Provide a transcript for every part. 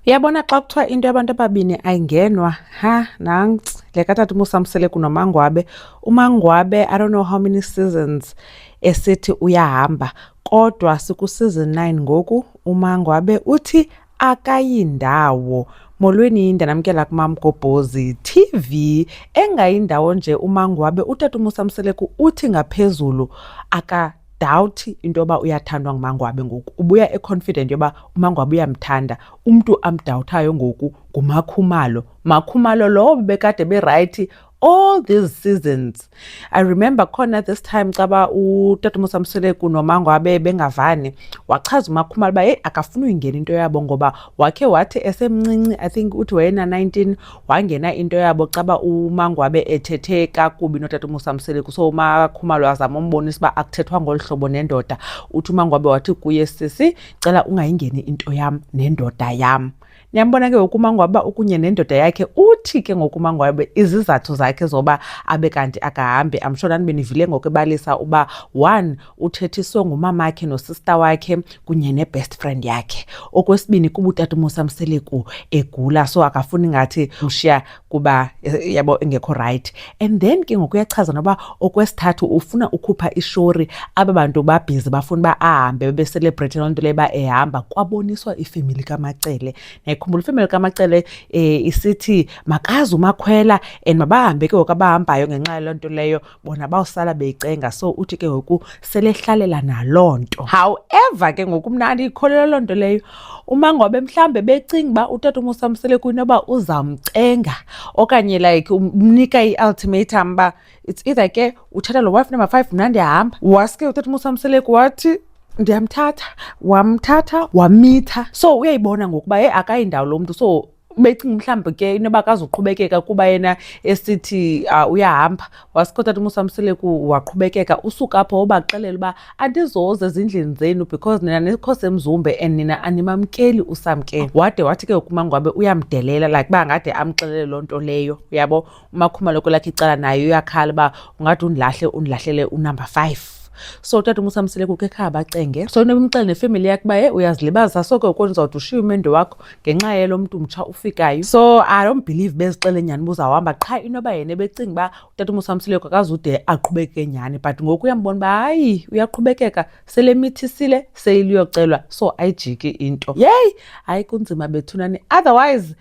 Uyabona xa kuthiwa into yabantu ababini ayingenwa ha nanc le katata umusamsele kunomangwabe umangwabe i don't know how many seasons esithi uyahamba kodwa sikuseason 9 ngoku umangwabe uthi akayindawo molweni yinde namkela kumamgobhozi tv engayindawo nje umangwabe utata umusamseleku uthi ngaphezulu aka dawuthi into yoba uyathandwa ngumangwabe ngoku ubuya econfident yoba umangwabe uyamthanda umntu amdawuthayo ngoku ngumakhumalo makhumalo lowo bebekade berayithi all these seasons i remember khona this time caba utatamusa mseleku nomangwabe bengavani wachaza umakhumalo uba yeyi akafuni uyingena into yabo ngoba wakhe wathi esemncinci i think uthi wayena-19 wangena into yabo caba umangwabe ethethe kakubi notata umusa mseleku so umakhumalo azama umbonisa uba akuthethwa ngolu hlobo nendoda uthi umangwabe wathi kuye sisi cela ungayingeni into yam nendoda yam niyambona ke ngokumangwaba ukunye nendoda yakhe uthi ke ngokumangwaba izizathu zakhe zoba abe kanti akahambi amshona nibe nivile ngokubalisa uba one uthethiswe ngumamakhe nosista wakhe kunye nebest friend yakhe okwesibini kuba utata umusa mseleku egula so akafuni ngathi ushiya kuba eh, yabo engekho right and then ke ngoku uyachaza noba okwesithathu ufuna ukhupha ishori aba bantu babhizi bafuna uba ahambe bebeselebrate loo nto leyo uba ehamba kwaboniswa ifemeli kamacele nayikhumbula ifemeli kamacele um isithi makazi umakhwela and mabahambe ke ngoku abahambayo ngenxa yaloo nto leyo bona bawusala beyicenga so uthi ke ngoku selehlalela naloo nto however ke ngoku mna andiyikholelwa loo nto leyo umangobe mhlawumbe becinga uba utata umusa msele kuyinoba uzamcenga okanye like umnika i-ultimatum uba it's either ke uthatha lo wife number five mna ndiyahamba waske utata umusa mseleku wathi ndiyamthatha wamthatha wamitha so uyayibona ngokuba ye akayindawo lo mntu so becinga mhlawumbi ke inoba akazuqhubekeka kuba yena esithi uh, uyahamba wasikotha ti umusamseleku waqhubekeka usuka apho wobaxelela uba andizoze ezindlini zenu because nina nikho semzumbe and nina animamkeli usamkeni wade wathi ke ukumangwabe uyamdelela like uba ngade amxelele loo nto leyo uyabo umakhumalo kwelakhe icala naye uyakhala uba ungathi undilahle undilahlele unumber five so utata umusa msele kukho ekhaya bacenge so nebumxele nefemeli yakhe uba ye uyazilibazisa so ke ukoni uzawuthi ushiye umendo wakho ngenxa yelo mntu mtsha ufikayo so i don't believe bezixele nyhani uba uzawuhamba qha into yoba yena ebecinga uba utata umusa msileko akazude aqhubeke nyhani but ngoku uyambona uba hayi uyaqhubekeka sele mithisile seyiliyocelwa so ayijiki into yeyi hayi kunzima bethunani otherwise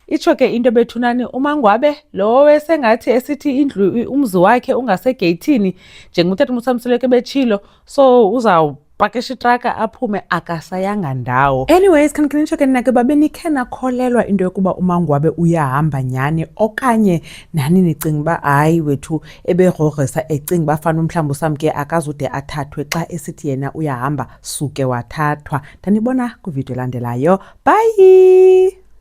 Itsho ke into ebethunani umangwabe lowo esengathi esithi indlu umzi wakhe ungasegeyithini njengotata umsamsuleke betshilo so uzawub pakisha itraka aphume akasayanga ndawo anyways khanikhe nitsho ke nina ke babe nikhe nakholelwa into yokuba umangwabe uyahamba nyhani okanye nani nicinga uba hayi wethu eberogrisa ecinga uba fana umhlawumbi usamke akazude athathwe xa esithi yena uyahamba suke wathathwa ndanibona kwividiyo elandelayo bhayi